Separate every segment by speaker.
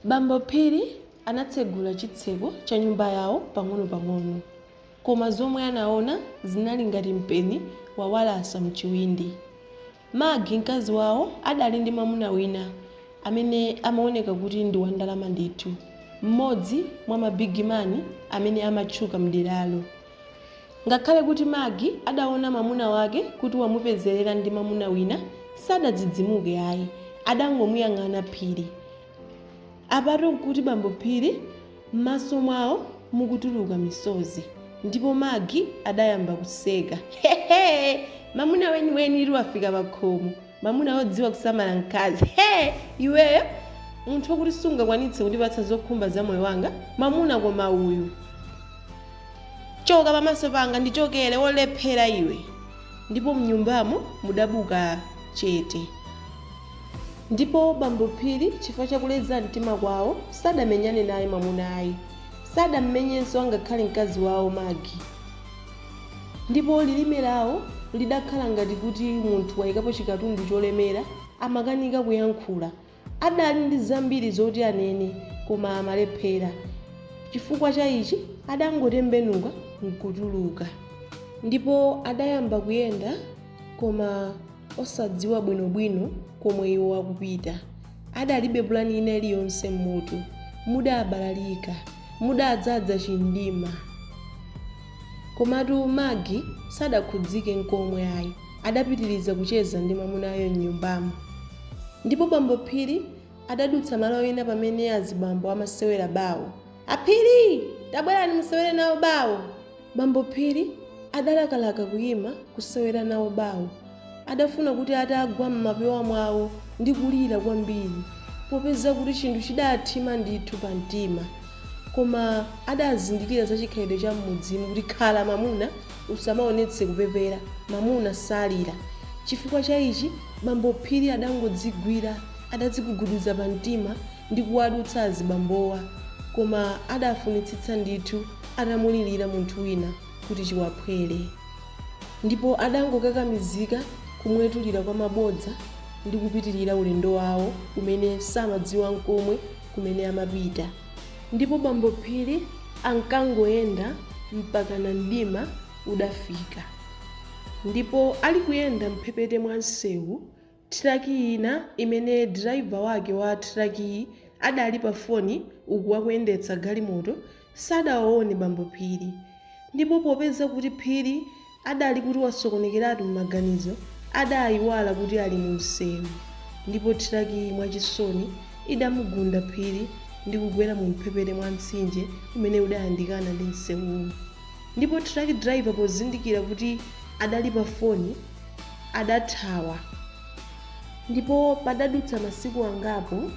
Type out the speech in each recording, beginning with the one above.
Speaker 1: Bambo Phiri anatsegula chitseko cha nyumba yawo pang'onopang'ono, koma zomwe anaona zinali ngati mpeni wawalasa m'chiwindi. Maggie, mkazi wawo, adali ndi mwamuna wina amene amaoneka kuti ndi wandalama ndithu, mmodzi mwa mabigimani amene amatchuka m'deralo. Ngakhale kuti Maggie adaona mwamuna wake kuti wamupezerera ndi mwamuna wina sadadzidzimuke ayi, adangomuyang'ana Phiri. Apatu nkuti bambo Phiri mmaso mwawo mukutuluka misozi ndipo Maggie adayamba kuseka. Hehe! Mamuna weniwenitu wafika pakhomo. mamuna odziwa kusamala mkazi he iweyo munthu okuti sungakwanitse kundipatsa zokhumba za moyo wanga mamuna koma uyu choka pamaso panga ndichokere olephera iwe ndipo mnyumbamo mudabuka chete ndipo bambo phiri chifukwa chakuleza mtima kwawo sadamenyane naye mamuna ayi sadammenyenso angakhale mkazi wawo magi Ndipo lilime lawo lidakhala ngati kuti munthu waikapo chikatundu cholemera, amakanika kuyankhula. Adali ndi zambiri zoti anene, koma amalephera. Chifukwa cha ichi adangotembenuka nkutuluka. Ndipo adayamba kuyenda, koma osadziwa bwinobwino komwe iwo akupita. Adalibe pulani ina iliyonse mmutu. Mudabalalika. Mudadzadza chimdima. Komatu Maggie sadakhudzike nkomwe ayi, adapitiriza kucheza ndi mwamunayo m'nyumbamo. Ndipo bambo Phiri adadutsa malo ena pamene azibambo amasewera bawo. A Phiri! Tabwerani musewere nawo bawo! Bambo Phiri adalakalaka kuyima kusewera nawo bawo. Adafuna kuti atagwa m'mapewa mwawo ndi kulira kwambiri, popeza kuti chinthu chidaathima ndithu pa mtima. Koma adazindikira za chikhalidwe cha m'mudzimu kuti khala mwamuna, usamaonetse kupepera, mwamuna salira. Chifukwa cha ichi, bambo Phiri adangodzigwira, adadziguguduza pa mtima ndi kuwadutsa azibambowa. Koma adafunitsitsa ndithu atamulilira munthu wina. kuti chiwaphwere, ndipo adangokakamizika kumwetulira kwa mabodza ndi kupitirira ulendo wawo umene samadziwa n'komwe kumene amapita. Ndipo Bambo Phiri ankangoyenda mpakana mdima udafika. Ndipo ali kuyenda m'mphepete mwa msewu, Thiraki ina imene diraiva wake wa thirakiyi adali pafoni uku akuyendetsa galimoto sadawaone bambo Phiri ndipo popeza kuti Phiri adali kuti wasokonekeratu m'maganizo adayiwala kuti ali mumsewu ndipo thirakiyi mwachisoni idamugunda Phiri ndi kugwera mumphepete mwa mtsinje umene udayandikana ndi msewuwu ndipo thiraki diraiva pozindikira kuti adali pafoni adathawa ndipo padadutsa masiku angapo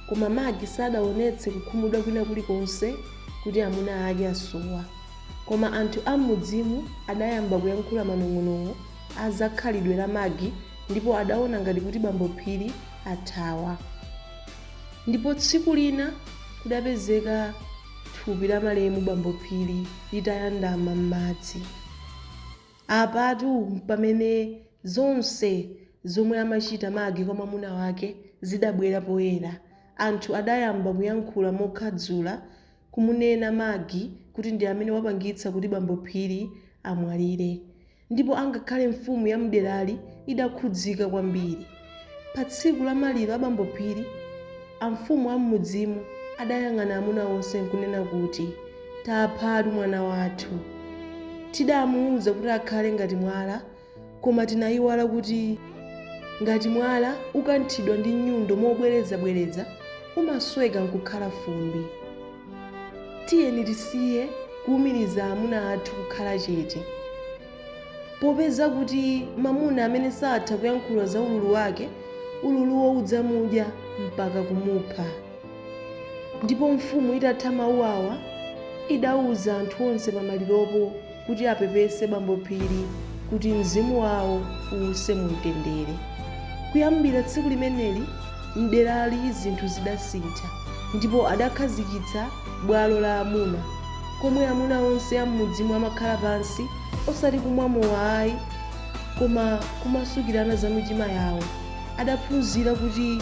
Speaker 1: koma Magi sadaonetse kukhumudwa kwina kulikonse kuti amuna ake asowa. Koma anthu am'mudzimu adayamba kuyankhula manong'onong'o a zakhalidwe la Magi ndipo adaona ngati kuti bambo Phiri athawa. Ndipo tsiku lina kudapezeka thupi la malemu bambo Phiri litayandama m'madzi. Apatu pamene zonse zomwe amachita Maggie kwa mwamuna wake zidabwera poyera. Anthu adayamba kuyankhula mokhadzula kumunena Maggie kuti ndi amene wapangitsa kuti bambo Phiri amwalire. Ndipo angakhale mfumu ya mderali idakhudzika kwambiri. Pa tsiku la maliro a bambo Phiri, amfumu a m'mudzimu adayang'ana amuna onse nkunena kuti, Taphatu mwana wathu. Tidamuuza kuti akhale ngati mwala, koma tinaiwala kuti ngati mwala ukanthidwa ndi nyundo mobwerezabwereza, umasweka nkukhala fumbi. Tiyeni tisiye kuumiriza amuna athu kukhala chete. Popeza kuti mwamuna amene satha kuyankhula za ululu wake, ululuwo udzamudya mpaka kumupha. Ndipo mfumu itatha mawu awa, idauza anthu onse pamaliropo kuti apepese bambo Phiri kuti mzimu wawo uuse mumtendere. Kuyambira tsiku limeneli, m'derali zinthu zidasintha ndipo adakhazikitsa bwalo la amuna. komwe amuna onse a m'mudzimo amakhala pansi, osati kumwa mowa ayi, koma kumasukirana za mitima yawo. Adaphunzira kuti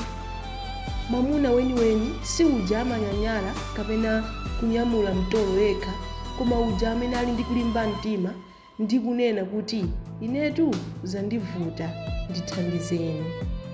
Speaker 1: mwamuna weniweni si uja amanyanyala kapena kunyamula mtolo yekha, koma uja amene ali ndi kulimba mtima ndi kunena kuti, Inetu zandivuta, ndithandizeni.